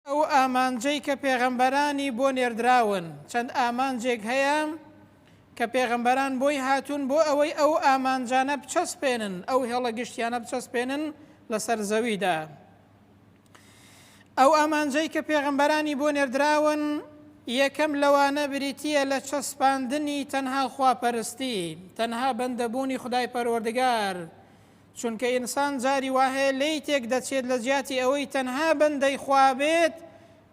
ئەو ئامانجەی کە پێغەمبەرانی بۆ نێردراون، چەند ئامانجێک هەیە کە پێغەمبەران بۆی هاتوون بۆ ئەوەی ئەو ئامانجانە بچەسپێنن، ئەو هێڵە گشتیانە بچەسپێنن لەسەر زەویدا. ئەو ئامانجەی کە پێغەمبەرانی بۆ نێردراون، یەکەم لەوانە بریتییە لە چەسپاندنی تەنها خواپەرستی، تەنها بەندەبوونی خودای پەروەردگار، چونکە ئینسان جاری وا هەیە لێی تێک دەچێت لە جیاتی ئەوەی تەنها بەندەی خوا بێت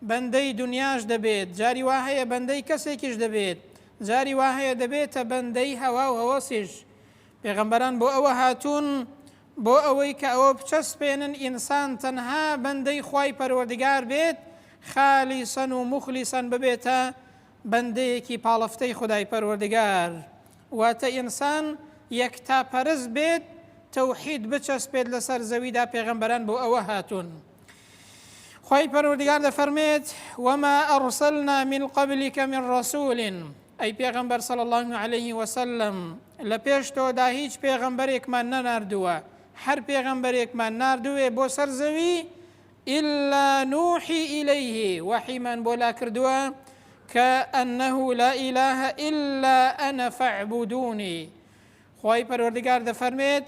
بەندەی دونیاش دەبێت، جاری وا هەیە بەندەی کەسێکیش دەبێت، جاری وا هەیە دەبێتە بەندەی هەوا و هەوەسیش. پێغەمبەران بۆ ئەوە هاتوون بۆ ئەوەی کە ئەوە بچەسپێنن ئینسان تەنها بەندەی خوای پەروەردگار بێت خالیسەن و موخلیسەن ببێتە بەندەیەکی پاڵفتەی خودای پەروەردگار. واتە ئینسان یەکتا پەرست بێت تەوحید بچەسپێت لەسەر زەویدا پێغەمبەران بۆ ئەوە هاتوون خی پەروەردگار دەفەرمێت وما ئەڕسەلنا من قبلکە من ڕسوولین ئەی پێغەمبەر سەڵ الله عليه وسلم لە پێش تۆدا هیچ پێغەمبەرێکمان نەناردووە هەر پێغەمبەرێکمان نردوێ بۆ سەر زەوی الا نوحی الیه وەحیمان بۆ لا کردووە کە انه لا اله الا انا فاعبدونی خوای پەروەردگار دەفەرمێت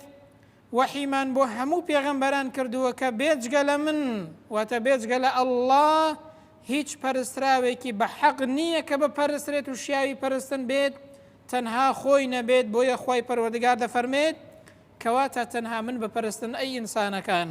وەحیمان بۆ هەموو پێغەمبەران کردووە کە بێجگە لە من واتە بێجگە لە الله هیچ پەرستراوێکی بە حەق نییە کە بە پەرسترێت و شیاوی پەرستن بێت تەنها خۆی نەبێت بۆیە خی پەروەردگار دەفەرمێت کەواتە تەنها من بە پەرستن ئەی ئینسانەکان.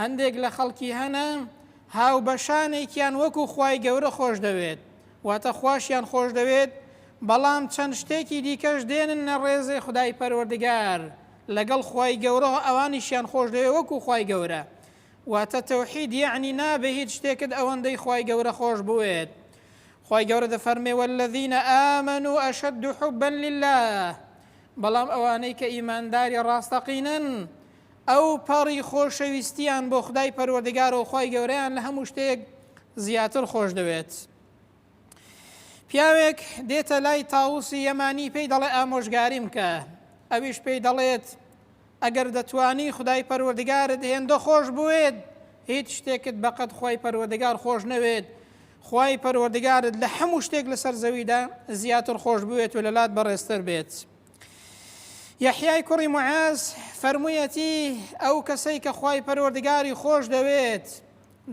هەندێک لە خەڵکی هەنە هاوبەشانێکیان وەکو خوای گەورە خۆش دەوێت واتە خواشیان خۆش دەوێت بەڵام چەند شتێکی دیکەش دێنن نە ڕێزێ خدای پەروەردگار لەگەڵ خوای گەورە ئەوانیشیان خۆش دەوێت وەکو خوای گەورە واتە تەوحید یعنی نابێ هیچ شتێکت ئەوەندەی خوای گەورە خۆش بوێت خوای گەورە دەفەرمێ والذین آمنوا اشد حبا لله بەڵام ئەوانەی کە ئیمانداری ڕاستەقینن ئەو پەڕی خۆشەویستیان بۆ خودای پەروەردگارە و خوای گەورەیان لە هەموو شتێک زیاتر خۆشدەوێت. پیاوێک دێتە لای تاوسی یەمانی پێی دەڵێ ئامۆژگاری بکە، ئەویش پێی دەڵێت ئەگەر دەتوانی خودای پەروەردگارت هێندە خۆش بوێت هیچ شتێکت بەقەد خوای پەروەردگار خۆش نەوێت، خوای پەروەردگارت لە هەموو شتێک لەسەر زەویدا زیاتر خۆش بوێت و لەلات بەڕێزتر بێت. یەحیای کوڕی معاز فەرموویەتی ئەو کەسەی کە خی پەروەردگاری خۆش دەوێت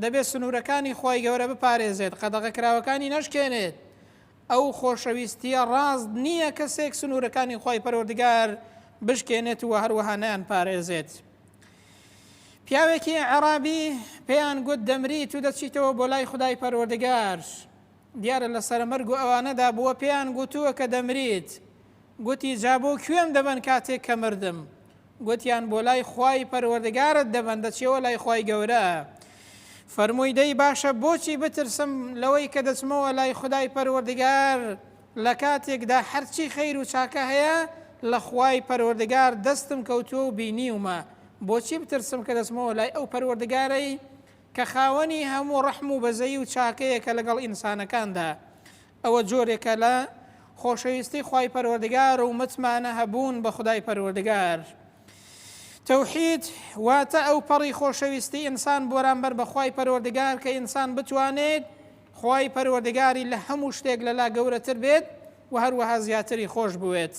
دەبێت سنوورەکانی خی گەورە بپارێزێت قەدەغە کراوەکانی نەشکێنێت ئەو خۆشەویستیە ڕاست نییە کەسێک سنوورەکانی خی پەروەردگار بشکێنێت و هەروەها نیان پارێزێت. پیاوێکی عرابی پێیان گوت دەمریت و دەچیتەوە بۆ لای خدای پەروەردگار دیارە لە سەرمەرگ و ئەوانەدا بووە پێیان گوتووە کە دەمریت گوتی، جا بۆ کوێم دەبەن کاتێک کە مردم؟ گوتیان، بۆ لای خوای پەروەردگارت دەبەن، دەچیەوە لای خوای گەورە. فەرمووی، دەی باشە بۆچی بترسم لەوەی کە دەچمەوە لای خودای پەروەردگار لە کاتێکدا هەرچی خەیر و چاکە هەیە لە خوای پەروەردگار دەستم کەوتووە و بینیومە، بۆچی بترسم کە دەچمەوە لای ئەو پەروەردگارەی کە خاوەنی هەموو ڕەحم و بەزەیی و چاکەیە کە لەگەڵ ئینسانەکاندا ئەوە جۆرێکە لە خۆشەویستی خوای پەروەردگار و متمانە هەبوون بە خودای پەروەردگار. تەوحید واتە ئەو پەڕی خۆشەویستی ئینسان بۆرانبەر بە خوای پەروەردگار کە ئینسان بتوانێت خوای پەروەردگاری لە هەموو شتێک لەلا گەورەتر بێت و هەروەها زیاتری خۆش بوێت.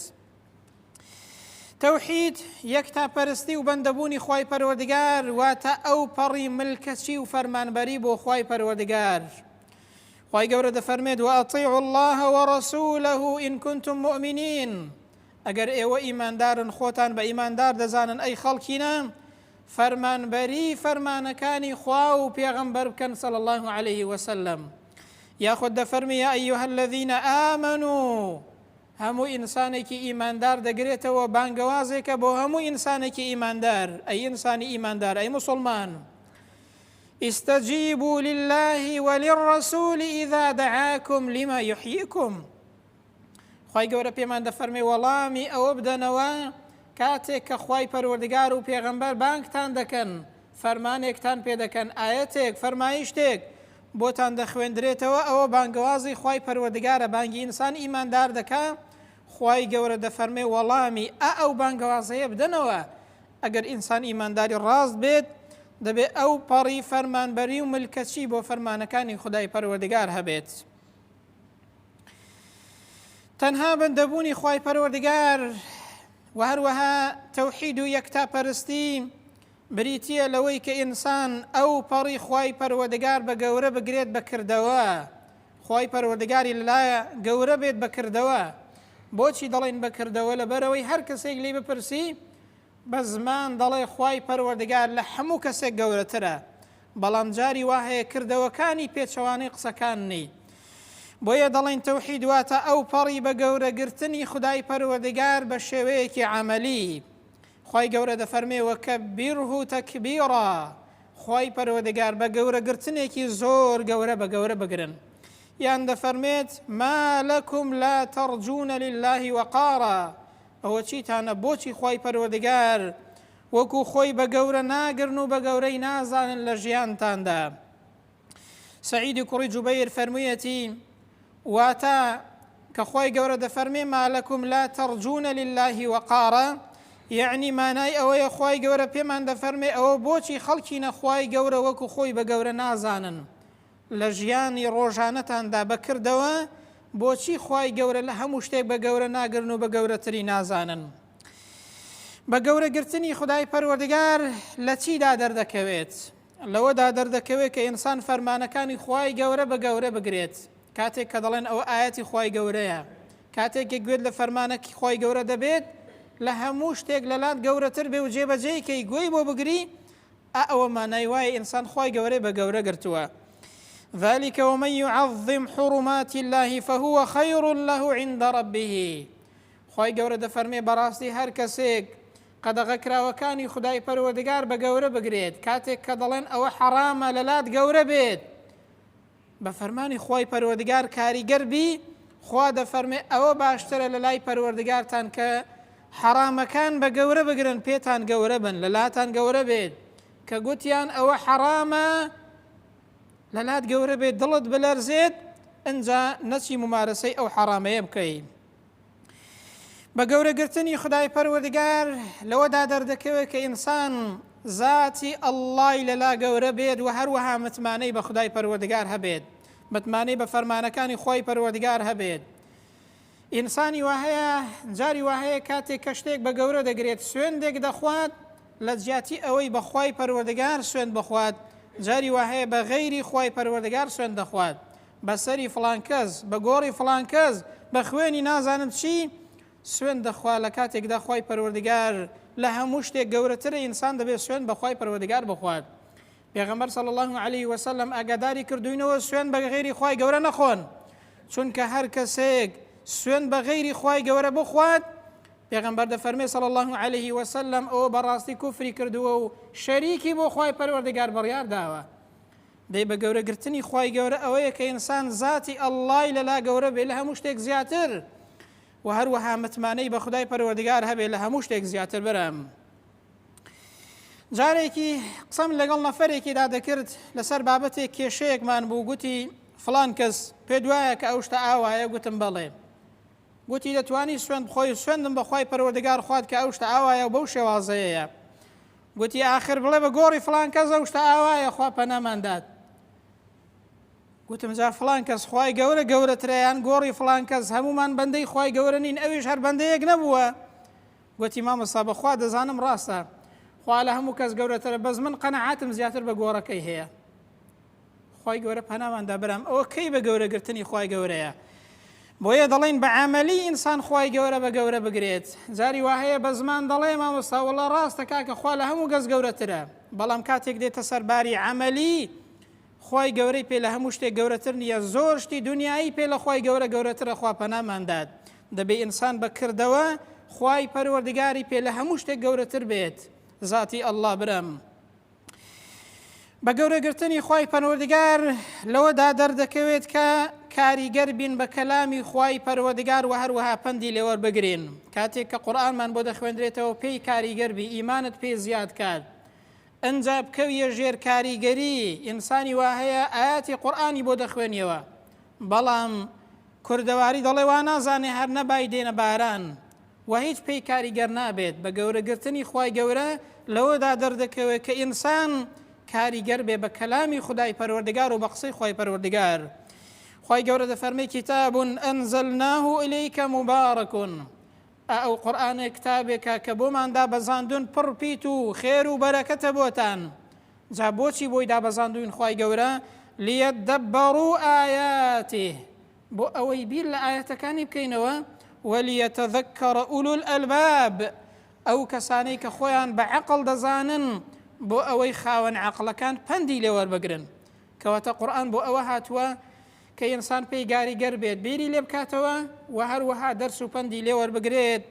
تەوحید یەک تا پەرستی و بەندەبوونی خی پەروەردگار واتە ئەو پەڕی ملکەچی و فەرمانبەری بۆ خی پەروەردگار. خوای گەورە دەفەرمێت وأطیعوا اللە ورسوله ان کنتم مؤمنین ئەگەر ئێوە ئیماندارن خۆتان بە ئیماندار دەزانن ئەی خەڵکینە فەرمانبەری فەرمانەکانی خوا و پێغەمبەر بکەن سەڵ الله عليه وسلم یاخود دەفەرمی یا ئەیها الذین آمنو هەموو ئینسانێکی ئیماندار دەگرێتەوە بانگەوازێکە بۆ هەموو ئینسانێکی ئیماندار ئەی ئینسانی ئیماندار ئەی مسلمان استجیبوا للە وللرسول اذا دعاکم لما یحییکم خوای گەورە پێمان دەفەرمێ وەڵامی ئەوە بدەنەوە کاتێک کە خوای پەروەردگار و پێغەمبەر بانگتان دەکەن فەرمانێکتان پێ دەکەن ئاەتێک فەرمایشتێک بۆتان دەخوێندرێتەوە ئەوە بانگەوازی خوای پەروەردگارە بانگی ئینسان ئیماندار دەکە خوای گەورە دەفەرمێ وەڵامی ئا ئەو بانگەوازەیە بدەنەوە ئەگەر ئینسان ئیمانداری ڕاست بێت، دەبێت ئەو پەڕی فەرمانبەری و ملکەچی بۆ فەرمانەکانی خودای پەروەردگار هەبێت. تەنها بەندەبوونی خوای پەروەردگار و هەروەها تەوحید و یەکتا پەرستی بریتە لەوەی کە ئینسان ئەو پەڕی خی پەروەدەگار بە گەورە بگرێت بەکردەوە خی پەروەدەگاری لەلایە گەورە بێت بەکردەوە بۆچی دەڵێن بەکردەوە لە بەرەوەی هەر کەسێک لی بپرسی بە زمان دەڵێ خوای پەروەردگار لە هەموو کەسێک گەورەترە بەڵام جاری وا هەیە کردەوەکانی پێچەوانەی قسەکان نی بۆیە دەڵێن تەوحید واتە ئەو پەڕی بە گەورەگرتنی خدای پەروەردگار بە شێوەیەکی عملی خی گەورە دەفەرمێ وەکە بیرهو تەکبیڕە خی پەروەردگار بە گەورەگرتنێکی زۆر گەورە بە گەورە بگرن یان دەفەرمێت ما لەکم لا تەڕجوونە للهی وەقارە ئەوە چیتانە بۆچی خوای پەروەردگار وەکو خۆی بە گەورە ناگرن و بە گەورەی نازانن لە ژیانتاندا سعیدی کوڕی جوبەیر فەرموویەتی واتە کە خۆی گەورە دەفەرمێ مالەکم لا تەرجونە لله وەقارە یعنی مانای ئەوەیە خی گەورە پێمان دەفەرمێ ئەوە بۆچی خەڵکی نەخوای گەورە وەکو خۆی بە گەورە نازانن لە ژیانی ڕۆژانەتاندا بە کردەوە بۆچی خوای گەورە لە هەموو شتێک بە گەورە ناگرن و بە گەورەتری نازانن؟ بە گەورە گرتنی خودای پەروەردگار لە چیدا دەردەکەوێت؟ لەوەدا دەردەکەوێت کە ئینسان فەرمانەکانی خوای گەورە بە گەورە بگرێت کاتێک کە دەڵێن ئەوە ئاەتی خوای گەورەیە کاتێک کە گوێت لە فەرمانەکی خوای گەورە دەبێت لە هەموو شتێک لەلات گەورەتر بێ و جێبەجێی کەی گوێی بۆ بگری ئا ئەوە مانای وایە ئینسان خوای گەورەی بە گەورە گرتووە. ذلك ومن يعظم حرمات الله فهو خير له عند ربه خوای گەورە دەفەرمێ بەڕاستی هەر کەسێک قەدەغە کراوەکانی خدای پەروەردگار بە گەورە بگرێت کاتێک کە دەڵێن ئەوە حەرامە لەلات گەورە بێت بە فەرمانی خوای پەروەردگار کاریگەر بی خوا دەفەرمێ ئەوە باشترە لە لای پەروەردگارتان کە حەڕامەکان بە گەورە بگرن پێتان گەورە بن لە لاتان گەورە بێت کە گوتیان ئەوە حەڕامە لە لات گەورە بێت دڵت بلەرزێت ئەجا نەچی ممارەسەی ئەو حەڕامەیە بکەیت بە گەورە گرتنی خدای پەروەردگار لەوەدا دەردەکەوێت کە ئینسان زاتی ئەللای لەلا گەورە بێت و هەروەها متمانەی بە خدای پەروەردگار هەبێت متمانەی بە فەرمانەکانی خۆی پەروەردگار هەبێت ئینسانی وهەیە جاری وهەیە کاتێک کە شتێک بە گەورە دەگرێت سوێندێک دەخوات لە جیاتی ئەوەی بەخوای پەروەردگار سوێن بخوات جاری وهەیە بە غەیری خی پەروەردگار سوێن دەخوات بە سەری فڵان کەس، بە گۆڕی فڵان کەس، بە خوێنی نازانم چی، سوێند دەخوا لە کاتێکدا خوای پەروەردگار لە هەموو شتێک گەورەترە ئینسان دەبێت سوێند بە خوای پەروەردگار بخوات پێغەمبەر صلی اللە علیه وسلم ئاگاداری کردوینەوە سوێن بە غیری خوای گەورە نەخۆن چونکە هەر کەسێک سوێن بە غیری خوای گەورە بخوات پێغەمبەر دەفەرمێ صلی اللە علیه وسلم ئەو بەڕاستی کوفری کردووە و شەریکی بۆ خوای پەروەردگار بڕیار داوە دەی بە گەورە گرتنی خوای گەورە ئەوەیە کە ئینسان زاتی اللەی لە لا گەورە بێ لە هەموو شتێک زیاتر وە هەروەها متمانەی بە خودای پەروەردگار هەبێ لە هەموو شتێک زیاتر برام جارێکی قسەم لەگەڵ نەفەرێکیدا دەکرد لەسەر بابەتێک کێشەیەکمان بوو گوتی فلان کەس پێ دوایە کە ئەو شتە ئاوایە گوتم بەڵێ گوتی دەتوانی سوێن بخۆی سوێندم بەخوای پەروەردگار خوارد کە ئەو شتە ئاوایە و بەو شێوازەیەیە گوتی ئاخر بڵێ بە گۆڕی فڵان کەس ئەو شتە ئاوایە خوا پەنامان دات گوتم جا فڵان کەس خوای گەورە گەورەتریان گۆڕی فڵان کەس هەمومان بەندەی خوای گەورە نین ئەویش هەر بەندەیەک نەبووە گوتی مامۆستا بەخوا دەزانم ڕاستە خوا لە هەموو کەس گەورەترە بەس من قەنەعاتم زیاتر بە گۆڕەکەی هەیە خوای گەورە پەنامان دا برام ئەوە کەی بە گەورە گرتنی خوای گەورەیە بۆیە دەڵێن بە عملی ئینسان خوای گەورە بە گەورە بگرێت جاری وا هەیە بە زمان دەڵێ مامۆستا وڵا ڕاستە کاکە خوا لە هەموو گەز گەورەترە بەڵام کاتێک دێتە سەرباری عملی خوای گەورەی پێ لە هەموو شتێک گەورەتر نییە زۆر شتی دنیایی پێ لە خوای گەورە گەورەترە خوا پەناماندات دەبێ ئینسان بەکردەوە خوای پەروەردگاری پێ لە هەموو شتێک گەورەتر بێت ذاتی ئەلله برم بە گەورەگرتنی خوای پەروەردگار لەوەدا دەردەکەوێت کە کاریگەر بین بە کەلامی خوای پەروەردگار و هەروەها پەندی لێوەر بگرین کاتێک کە قورآنمان بۆ دەخوێندرێتەوە پێی کاریگەر بی ئیمانت پێ زیاد کات ئەجا بکەویە ژێر کاریگەری ئینسانی وا هەیە ئاەتی قورآانی بۆ دەخوێنیەوە بەڵام کوردەواری دەڵێ وا نازانێ هەر نەبای دێنە باران وەهیچ پێی کاریگەر نابێت بەگەورە گرتنی خوای گەورە لەوەدا دەردەکەوێت کە ئینسان کاریگەر بێ بە کەلامی خودای پەروەردگار و بە قسەی خوای پەروەردگار خوای گەورە دەفەرمی کتاب ئەنزلناه الیک مبارک ئەو قورآانێ کتابێکە کە بۆمان دابەزاندون پڕ پیت و خێر و بەرەکەتە بۆتان جا بۆچی بۆی دابەزاندوین خی گەورە لیە دەبڕ و ئاياتی بۆ ئەوەی بیر لە ئایەتەکانی بکەینەوە، ولیتذکر اولو الالباب، ئەو کەسانەی کە خۆیان بە عەقڵ دەزانن بۆ ئەوەی خاوەن عەقڵەکان پەندی لێ وەربگرن، کەواتە قورئان بۆ ئەوە هاتووە کە ئینسان پێی گاریگەر بێت بیری لێ بکاتەوە و هەروەها دەرس و پەندی لێ وەربگرێت،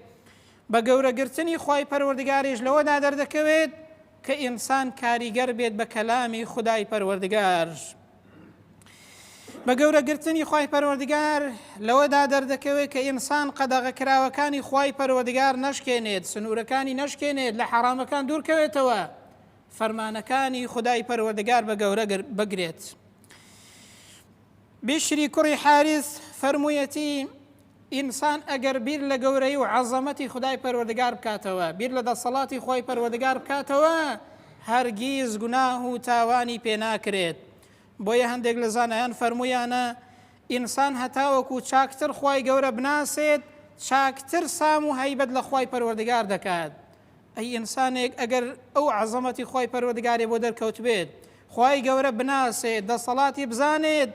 بە گەورەگرتنی خوای پەروەردگاریش لەوەدا دەردەکەوێت، کە ئینسان کاریگەر بێت بە کەلامی خودای پەروەردگار بە گەورە گرتنی خی پەروەردگار لەوەدا دەردەکەوێت کە ئینسان قەدەغە کراوەکانی خی پەروەردگار نەشکێنێت سنوورەکانی نەشکێنێت لە حەرامەکان دوورکەوێتەوە فەرمانەکانی خدای پەروەردگار بە گەورە بگرێت. بیشری کوڕی حاریس فەرموویەتی، ئینسان ئەگەر بیر لە گەورەیی و عەزەمەتی خودای پەروەردگار بکاتەوە، بیر لە دەسەڵاتی خۆی پەروەردگار بکاتەوە، هەرگیز گوناه و تاوانی پێ ناکرێت. بۆیە هەندێک لە زانایان فەرموویانە، ئینسان هەتاوەکو چاکتر خوای گەورە بناسێت، چاکتر سام و هەیبەت لە خوای پەروەردگار دەکات. ئەی ئینسانێک ئەگەر ئەو عەزەمەتی خوای پەروەردگارێ بۆ دەرکەوتبێت خوای گەورە بناسێت دەسەڵاتی بزانێت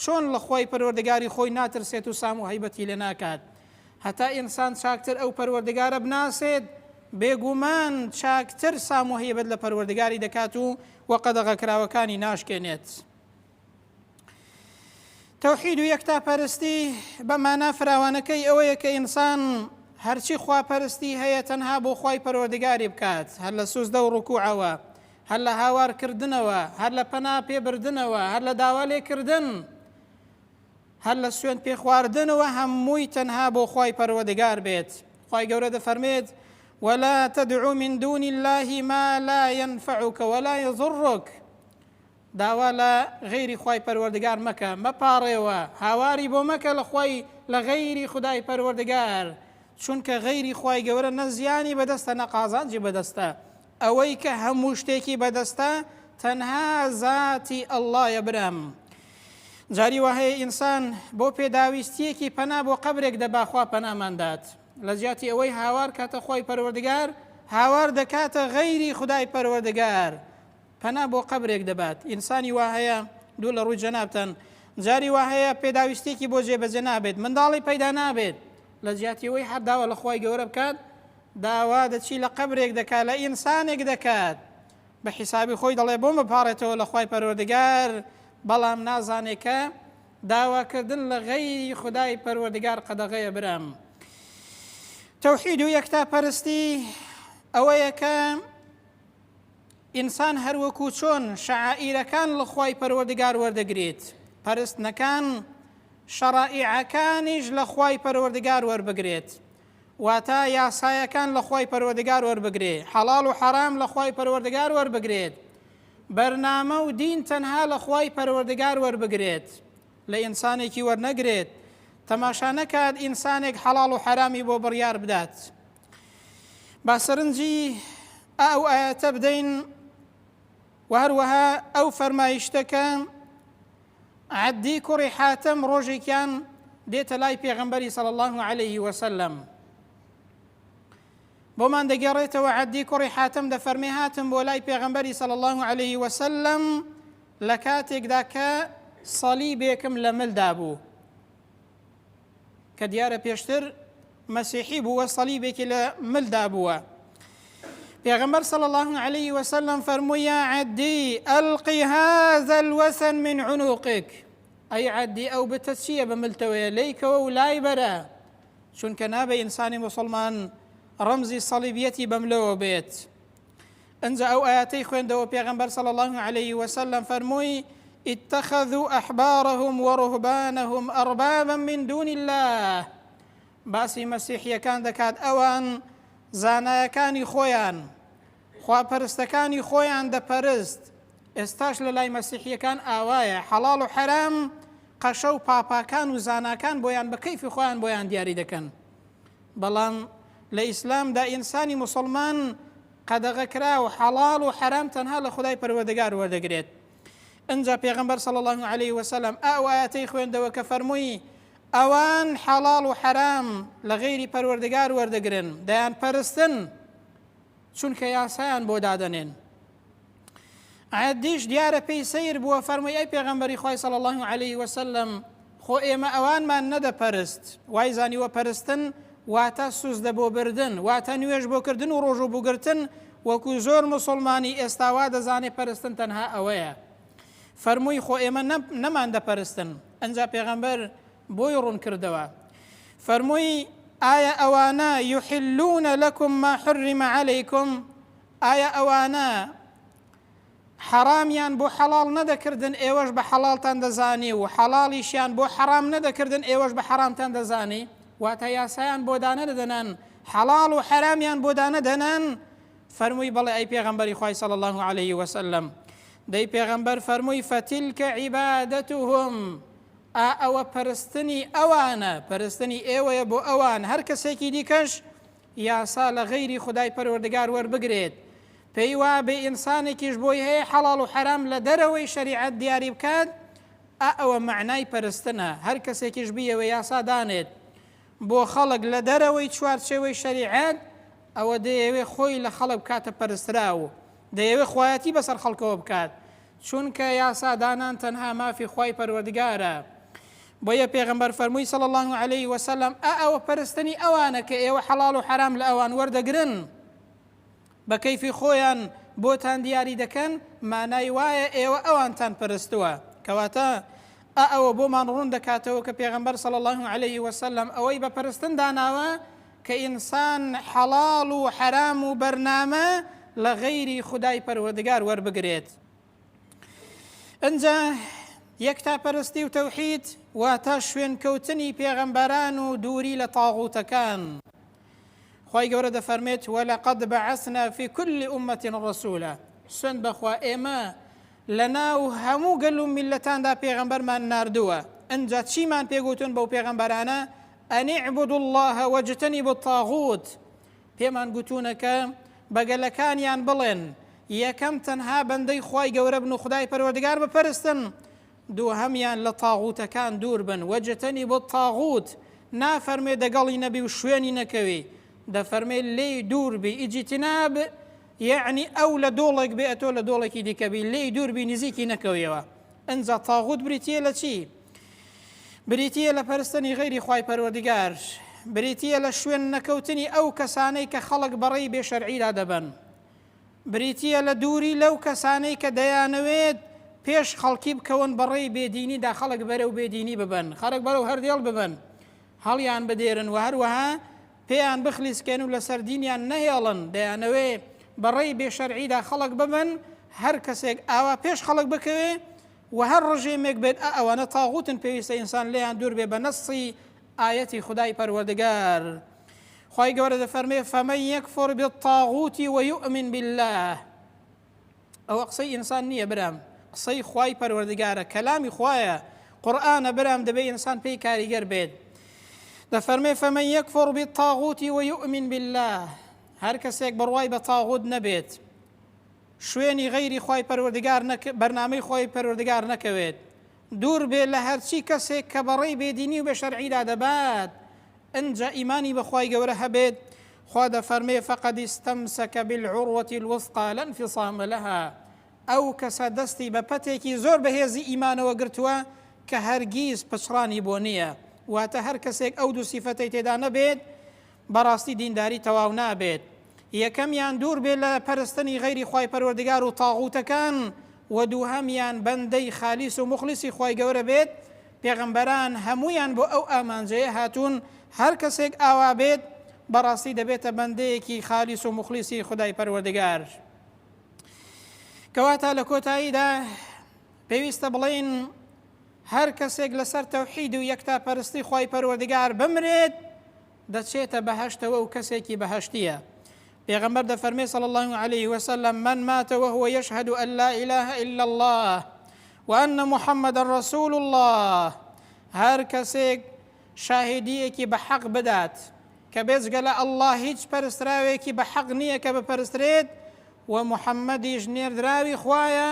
چۆن لە خوای پەروەردگاری خۆی ناترسێت و سام و هەیبەتی لێ ناکات هەتا ئینسان چاکتر ئەو پەروەردگارە بناسێت بێگومان چاکتر سام و هەیبەت لە پەروەردگاری دەکات و وە قەدەغەکراوەکانی ناشکێنێت تەوحید و یەکتاپەرستی بە مانا فراوانەکەی ئەوەیە کە ئینسان هەرچی خواپەرستی هەیە تەنها بۆ خی پەرۆردگاری بکات هەر لە سوزدە و ڕکوعەوە هەر لە هاوارکردنەوە هەر لە پەنا پێبردنەوە هەر لە داوا لێکردن هەر لە سوێن پێخواردنەوە هەمووی تەنها بۆ خی پەروەدگار بێت خی گەورە دەفەرمێت ولا تدعو من دون الله ما لا ينفعك ولا يضرك داوا لە غەیری خوای پەروەردگار مەکە، مەپاڕێوە، هاواری بۆ مەکە لە خوای لە غەیری خودای پەروەردگار، چونکە غەیری خوای گەورە نە زیانی بەدەستە نە قازانجی بەدەستە، ئەوەی کە هەموو شتێکی بەدەستە تەنها زاتی اللەیە برام. جاری واهەیە ئینسان بۆ پێداویستیەکی پەنا بۆ قەبرێک دەبا خوا پەنامان دات، لە جیاتی ئەوەی هاوار کاتە خوای پەروەردگار هاوار دەکاتە غەیری خودای پەروەردگار، پەنا بۆ قەبرێک دەبات. ئینسانی وا هەیە، دوور لە ڕووی جەنابتان، جاری وا هەیە پێداویستییەکی بۆ جێبەجێ نابێت، منداڵی پەیدا نابێت، لە جیاتی ئەوەی هەر داوا لە خوای گەورە بکات، داوا دەچی لە قەبرێک دەکات، لە ئینسانێک دەکات، بە حیسابی خۆی دەڵێت بۆم بپاڕێتەوە لە خوای پەروەردگار، بەڵام نازانێت کە داواکردن لە غەیری خودای پەروەردگار قەدەغەیە. برام! تەوحید و یەکتاپەرستی ئەوەیە کە. ئینسان هەر وەکوو چۆن شەعائیرەکان لە خوای پەروەردگار وەردەگرێت، پەرستنەکان شەڕائیعەکانیش لە خوای پەروەردگار وەربگرێت، واتە یاسایەکان لە خوای پەروەردگار وەربگرێ، حەڵاڵ و حەرام لە خوای پەروەردگار وەربگرێت، بەرنامە و دین تەنها لە خوای پەروەردگار وەربگرێت، لە ئینسانێکی وەرنەگرێت، تەماشا نەکات ئینسانێک حەڵاڵ و حەرامی بۆ بڕیار بدات. با سەرنجی ئا ئەو ئایەتە بدەین و هەروەها ئەو فەرمایشتە کە عەدی کوڕی حاتەم ڕۆژێکیان دێتە لای پێغەمبەری سەڵ الله عليه وسلم بۆمان دەگەڕێتەوە عەدی کوڕی حاتم دەفەرمێ هاتم بۆ لای پێغەمبەری سەڵ الله عليه وسلم لە کاتێکدا کە سەلی بێکم لە ملدا بوو کە دیارە پێشتر مەسیحی بووە سەلیبێکی لە ملدا بووە پێغەمبەر صلی الله عليه وسلم فەرمووی یا عەدی ئەلقی هذا الوثن من عنقك ئەی عەدی ئەو بتە چییە بە ملتەوەیە لەیکەوە و لای بەرە چونکە نابێ ئینسانی مسلمان ڕەمزی سەلیبیەتی بەملەوە بێت ئنجا ئەو ئایەتەی خوێندەوە پێغەمبەر صلی اللە علیە وسلم فەرمووی، اتخذو احبارهم ورهبانهم اربابا من دون اللە باسی مەسیحیەکان دەکات ئەوان زانایەکانی خۆیان خواپەرستەکانی خۆیان دەپەرست ئێستاش لە لای مەسیحیەکان ئاوایە حەڵاڵ و حەرام قەشە و پاپاکان و زاناکان بۆیان بە کەیفی خۆیان بۆیان دیاری دەکەن بەڵام لە ئیسلامدا ئینسانی مسلمان قەدەغەکراو، حەڵاڵ و حەرام تەنها لە خودای پەروەردگار وەردەگرێت. ئنجا پێغەمبەر صلی اللە علیە وسلم ئائو ئایەتەی خوێندەوە کە فەرمووی، ئەوان حەڵاڵ و حەرام لە غەیری پەروەردگار وەردەگرن، دەیانپەرستن، چونکە یاسایان بۆ دادەنێن. ئاەت دیش دیارە پێی سیر بووە فەرمووی ئەی پێغەمبەری خی سەڵ الله عليه وسلم خۆ ئێمە ئەوانمان نەدەپەرست وای زانیوە پەرستن واتە سوزدە بۆ بردن واتە نوێژ بۆکردن و ڕۆژ و بگرتن وەکو زۆر مسلمانی ئێستاوا دەزانێت پەرستن تەنها ئەوەیە فەرمووی خۆ ئێمە نەمان دەپەرستن ئەنج پێغەمبەر بۆی ڕوون کردەوە فەرمووی ئایا ئەوانە یحلونە لەکم ما حرمە عەلەیکم ئایا ئەوانە حەڕامیان بۆ حەڵاڵ نەدەکردن ئێوەش بە حەڵاڵتان دەزانی و حەڵاڵیشیان بۆ حەڕام نەدەکردن ئێوەش بە حەڕامتان دەزانی واتە یاسایان بۆ دانەدەدەنان حەڵاڵ و حەرامیان بۆ دانەدەنان فەرمووی بەڵێ ئەی پێغەمبەری خوای صلی الله عليه وسلم دەی پێغەمبەر فەرمووی فەتیلکە عیبادەتهم ئا ئەوە پەرستنی ئەوانە پەرستنی ئێوەیە بۆ ئەوان هەر کەسێکی دیکەش یاسا لە غەیری خودای پەروەردگار وەربگرێت، پێی وایە بێ ئینسانێکیش بۆی هەیە حەڵاڵ و حەرام لە دەرەوەی شەریعەت دیاری بکات، ئا ئەوە مەعنای پەرستنە، هەر کەسێکیش بیەوێ یاسا دانێت بۆ خەڵک لە دەرەوەی چوارچێوەی شەریعەت، ئەوە دەیەوێ خۆی لە خەڵک بکاتە پەرستراو و دەیەوێ خوایەتی بەسەر خەڵکەوە بکات، چونکە یاسا دانان تەنها مافی خوای پەروەردگارە بۆیە پێغەمبەر فەرمووی صلی الله علیه وسلم ئە ئەوە پەرستنی ئەوانە کە ئێوە حەڵاڵ و حەرام لە ئەوان وەردەگرن بە کەیفی خۆیان بۆتان دیاری دەکەن مانای وایە ئێوە ئەوانتان پەرستووە کەواتە ئە ئەوە بۆمان ڕوون دەکاتەوە کە پێغەمبەر صلی الله علیه وسلم ئەوەی بە پەرستن داناوە کە ئینسان حەڵاڵ و حەرام و بەرنامە لە غەیری خودای پەروەردگار وەربگرێت ئەجا یەکتا پەرستی و تەوحید واتە شوێنکەوتنی پێغەمبەران و دووری لە تاغوتەکان خی گەورە دەفەرمێت وە لە قەد بە عسنا فی کولی عومەتین ڕسوولە سند بەخوا ئێمە لە ناو هەموو گەل و میلەتاندا پێغەمبەرمان نردووە ئەجا چیمان پێگوتون بەو پێغەمبەرانە ان اعبدوا اللە واجتنبوا الطاغوت، پێمان گوتوونە کە بە گەلەکانیان بڵێن، یەکەم تەنها بەندەی خوای گەورە بن و خودای پەروەردگار بپەرستن، دووهەمیان لە طاغوتەکان دوور بن، واجتنبوا الطاغوت، نافەرموێ دەگەڵی نەبی و شوێنی نەکەوی، دەفەرموێ لێی دوور بی، اجتناب یەعنی ئەو لە دۆڵێک بێ ئەتۆ لە دۆڵێکی دیکە بی، لێی دوور بی نزیکی نەکەویەوە، ئنجا طاغوت بریتییە لە چی؟ بریتی یە لە پەرستنی غەیری خوای پەروەردگار، بریتی یە لە شوێن نەکەوتنی ئەو کەسانەی کە خەڵک بە ڕێی بێ شەرعی لا دەبەن، بریتی یە لە دووری لەو کەسانەی کە دەیانەوێت پێش خەڵکی بکەون بە ڕێی بێ دینی دا خەڵک بەرەو بێ دینی ببەن، خەڵک بەرەو هەر دێڵ ببەن هەڵیان بدێرن و هەروەها پێیان بخلیسکێن و لەسەر دینیان نەهێڵن، دەیانەوێ بە ڕێی بێ شەرعی دا خەڵک ببەن، هەر کەسێک ئاوا پێش خەڵک بکەوێ، وە هەر ڕژێمێک بێت ئە ئەوانە تاغوتن پێویستە ئینسان لێیان دوور بێ بە نەصی ئایەتی خودای پەروەردگار خوای گەورە دەفەرمێ فەمەن یەکفر بالطاغوت ویؤمن بالله ئەوە قسەی ئینسان نییە برام قسەی خوای پەروەردگارە کەلامی خوایە قورآانە برام دەبێ ئینسان پێی کاریگەر بێت دەفەرمێ فەمەن یەکفر بالطاغوت ویؤمن بالله هەر کەسێک بڕوای بە تاغوت نەبێت شوێنی غەیری خوای پەروەردگار نەک بەرنامەی خوای پەروەردگار نەکەوێت دوور بێ لە هەرچی کەسێک کە بەڕێی بێدینی و بێ شەرعیدا دەبات ئنجا ئیمانی بەخوای گەورە هەبێت خوا دەفەرمێ فقد استمسك بالعروة الوثقى لا انفصام لها ئەو کەسە دەستی بە پەتێکی زۆر بەهێزی ئیمانەوە گرتووە کە هەرگیز پچڕانی بۆ نییە واتە هەر کەسێک ئەو دوو سیفەتەی تێدا نەبێت بەڕاستی دینداری تەواو نابێت یەکەمیان دوور بێت لە پەرستنی غەیری خوای پەروەردگار و طاغوتەکان وە دووهەمیان بەندەی خالیس و موخلیسی خوای گەورە بێت پێغەمبەران هەموویان بۆ ئەو ئامانجەیە هاتوون هەر کەسێک ئاوا بێت بەڕاستی دەبێتە بەندەیەکی خالیس و موخلیسی خودای پەروەردگار کەواتە لە کۆتاییدا پێویستە بڵێین هەر کەسێک لەسەر تەوحید و یەکتا پەرستی خوای پەروەردگار بمرێت دەچێتە بەهەشتەوە و کەسێکی بەهەشتیە پێغەمبەر دەفەرمێ صلی الله عليه وسلم من مات وهو يشهد أن لا إله إلا الله وأن محمد رسول الله هەر کەسێک شاهدیەکی بە حەق بدات کە بێزگە لە ئەله هیچ پەرستراوێکی بە حەق نییە کە بپەرسترێت و محەممەدیش نێردراوی خویە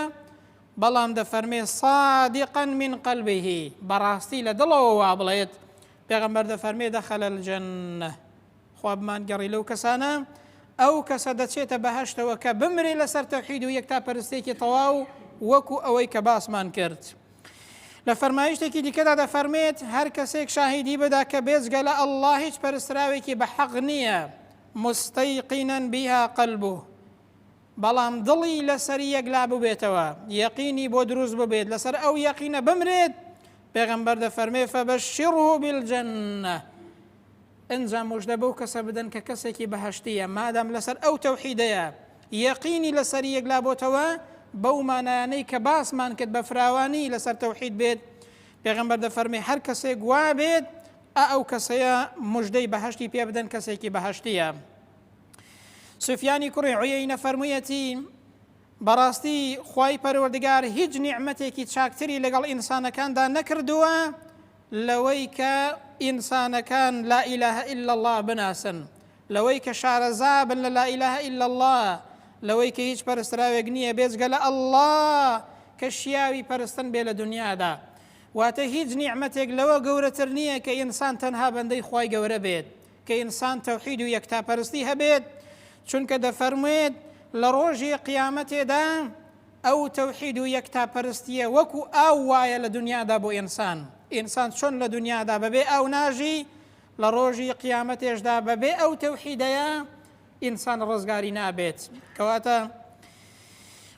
بەڵام دەفەرمێ صادقا من قلبه بەڕاستی لە دڵەوە وابڵێت پێغەمبەر دەفەرمێ دخل الجنە خوا بمانگەڕی لەو کەسانە ئەو کەسە دەچێتە بەهشتەوە کە بمرێ لەسەر تەوحید و یەک تا پەرستێکی تەواو وەکو ئەوەی کە باسمان کرد. لە فەرمایشتێکی دیکەدا دەفەرمێت هەر کەسێک شاهیدی بدا کە بێجگە لە ئەلله هیچ پەرستراوێکی بە حەق نییە مستەیقینەن بیها قەلبوو بەڵام دڵی لەسەر یەک لا ببێتەوە یەقینی بۆ دروست ببێت لەسەر ئەو یەقینە بمرێت پێغەمبەر دەفەرمێ فەبەشیڕه بالجنە ئەنجا مژدە بەو کەسە بدەن کە کەسێکی بەهشتیە مادام لەسەر ئەو تەوحیدەیە یەقینی لەسەر یەک لا بۆتەوە بەو مانایانەی کە باسمان کرد بە فراوانی لەسەر تەوحید بێت پێغمبەر دەفەرمی هەر کەسێک وا بێت ئەو کەسەیە مژدەی بەهشتی پێ بدەن کەسێکی بەهشتیە سفیانی کوڕی عویەینە فەرموویەتی بەڕاستی خوای پەروەردگار هیچ نیعممەتێکی چاکتری لەگەڵ ئینسانەکاندا نەکردووە لەوەی کە ئینسانەکان لا ئیلاه إلا الله بناسن لەوەی کە شارەزا بن لە لا ئیلاه إلا الله لەوەی کە هیچ پەرستراوێک نییە بێزگە لە ئەله کە شیاوی پەرستن بێ لە دنیادا واتە هیچ نیعممەتێک لەوە گەورەتر نییە کە ئینسان تەنها بەندەی خی گەورە بێت کە ئینسان تەوحید و یەکتاپەرستی هەبێت چونکە دەفەرموێت لە ڕۆژی قیامەتێدا ئەو تەوحید و یەکتاپەرستیە وەکو ئاو وایە لە دنیادا بۆ ئینسان ئینسان چۆن لە دنیادا بەبێ ئاو ناژی لە ڕۆژی قیامەتێشدا بەبێ ئەو تەوحیدەیە ئینسان ڕزگاری نابێت کەواتە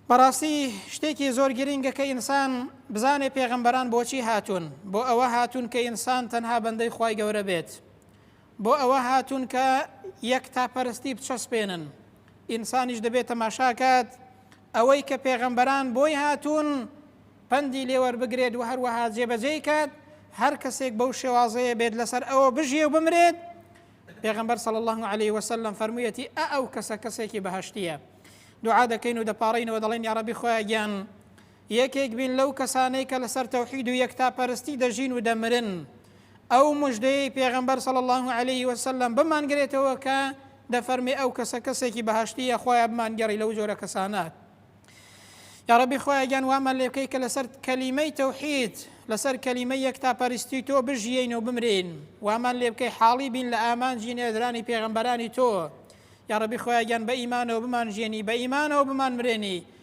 بەڕاستی شتێکی زۆر گرنگە کە ئینسان بزانێ پێغەمبەران بۆچی هاتوون بۆ ئەوە هاتوون کە ئینسان تەنها بەندەی خی گەورە بێت بۆ ئەوە هاتوون کە یەک تا پەرستی بچەسپێنن ئینسانیش دەبێت تەماشاکات ئەوەی کە پێغەمبەران بۆی هاتوون پەندی لێوەربگرێت و هەروەها جێبەجێی کات هەر کەسێک بەو شێوازەیە بێت لەسەر ئەوە بژێ و بمرێت پێغمبەر صلی الله عليه وسلم فەرموویەتی ئە ئەو کەسە کەسێکی بەهشتیە دوعا دەکەین و دەپارڕینەوە دەڵێن یاڕبی خۆیان یەکێک بین لەو کەسانەی کە لەسەر تەوحید و یەکتاپەرستی دەژین و دەمرن ئەو مژدەیەی پێغەمبەر صلی اللە علیه وسلم بمانگرێتەوە کە دەفەرمێ ئەو کەسە کەسێکی بەهشتیە خۆیان بمانگەڕی لەو جۆرە کەسانات یا ربی خۆیان گیان وامان لێ بکەی کە لەسەر کەلیمەی تەوحید لەسەر کەلیمە یەک تا پەرستی تۆ بژیین و بمرین وامان لێ بکەی حاڵی بین لە ئامانجی نێدرانی پێغمبەرانی تۆ یا ربی خۆیان گیان بە ئیمانەوە بمان ژێنی بە ئیمانەوە بمان مرێنی